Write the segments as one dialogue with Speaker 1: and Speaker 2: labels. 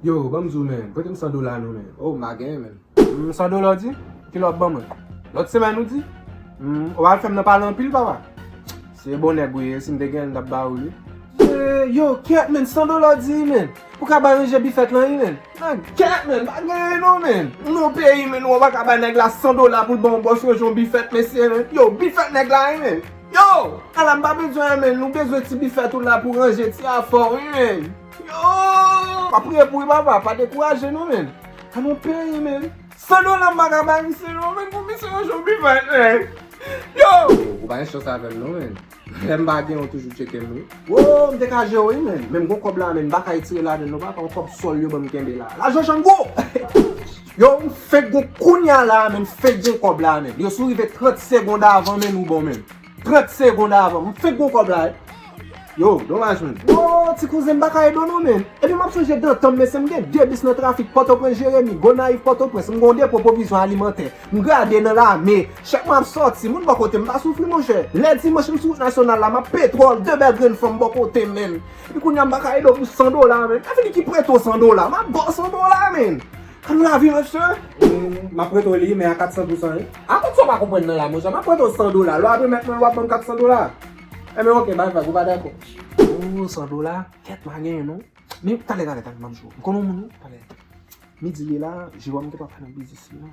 Speaker 1: Yo, banm di w men, prete m 100 dola nou men. Oh, m pa genyen menm. Humm, 100 dola w di? Ki lè w ap ban mwen? Lòt semèn ou di? Humm, ou al fè m nan pale anpil papa. Se bon nèg ou ye, si m te genyen l m t ap ba ou li. Yee, yo, kyèt men, 100 dola w di wi men. Pou ka bay ranje bifèt lan wi men. Nan kyèt men, m pa genyen non men. M nan yon peyi men, ou pa ka bay nèg la 100 dola pou l ban w bòs ranje yon bifèt mesye men. Yo, bifèt nèg la wi men. Yo, ala m pa bezwen an men, nou bezwen ti bifèt ou la pou ranje ti afè w wi men. Yow! Map priye pou u papa, pa dekouraje non men. An nou peye men. San dola mpa ka bay misye non men pou misye yon jou vivan men. Yow! Ou pa gen chans avèm non men. Lèm pa gen ou toujou tchekem wi. Woww mte ka jew wi men. Menm gon kòb la men mpa ka etire ladann non papa yon kòb sòl yo banm kenbe la. Lajan django! Yow mfenk gen kounya la men mfenk gen kòb la men. Yow si ou rive 30 segond avan men ou bon men. 30 segond avan. M fenk gon kob la wi. Yo, domaj menn. Wo, ti kouzen m pa ka ede w non menn. Epi m ap sonje dantan m mesye m gen 2 bis nan trafik Pòtoprens Jeremi, Gonayiv Pòtoprens. M gon depo pwovizyon alimantè. M grade nan lame. Chèk mwen ap sòti. Moun bò kote m pa soufri monchè. Lè dimanch m sou wout nasyonal la m ap petwòl 2 bèl grenn fanm bò kote m menn. Epi kounya m pa ka ede w pou 100 dola menn. Avini ki prete w 100 dola. M ap ba w 100 dola menn. Pou lavi mesye, m ap prete w li men a 400 pou san wi. A kòb sa w pa konprann nan la monchè, m ap prete w 100 dola, lè w ap remèt mwen l w ap ban m 400 dola. Enben ok, bay vag, ou pa dakò. Ooh 100 dola, kèt ma genyen non. Men talè talè talè m ap di w, m konnen w moun wi, talè. Midi ye la, Jewòm te pral fè nan biznis li non.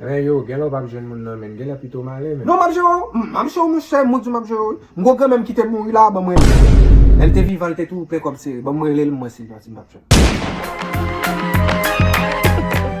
Speaker 1: Ren yo, genlè w pap jwenn moun nan menn, genlè pito m ale menn. Non map jere w, m ap jere w mwen sèm, mwen di w map jere w wi. M gwo granmè m ki te mouri la a ban m rele l. Lè l te vivan l te toujou plen kòb sere, ban m rele l mwen Silvante m pap jwenn l.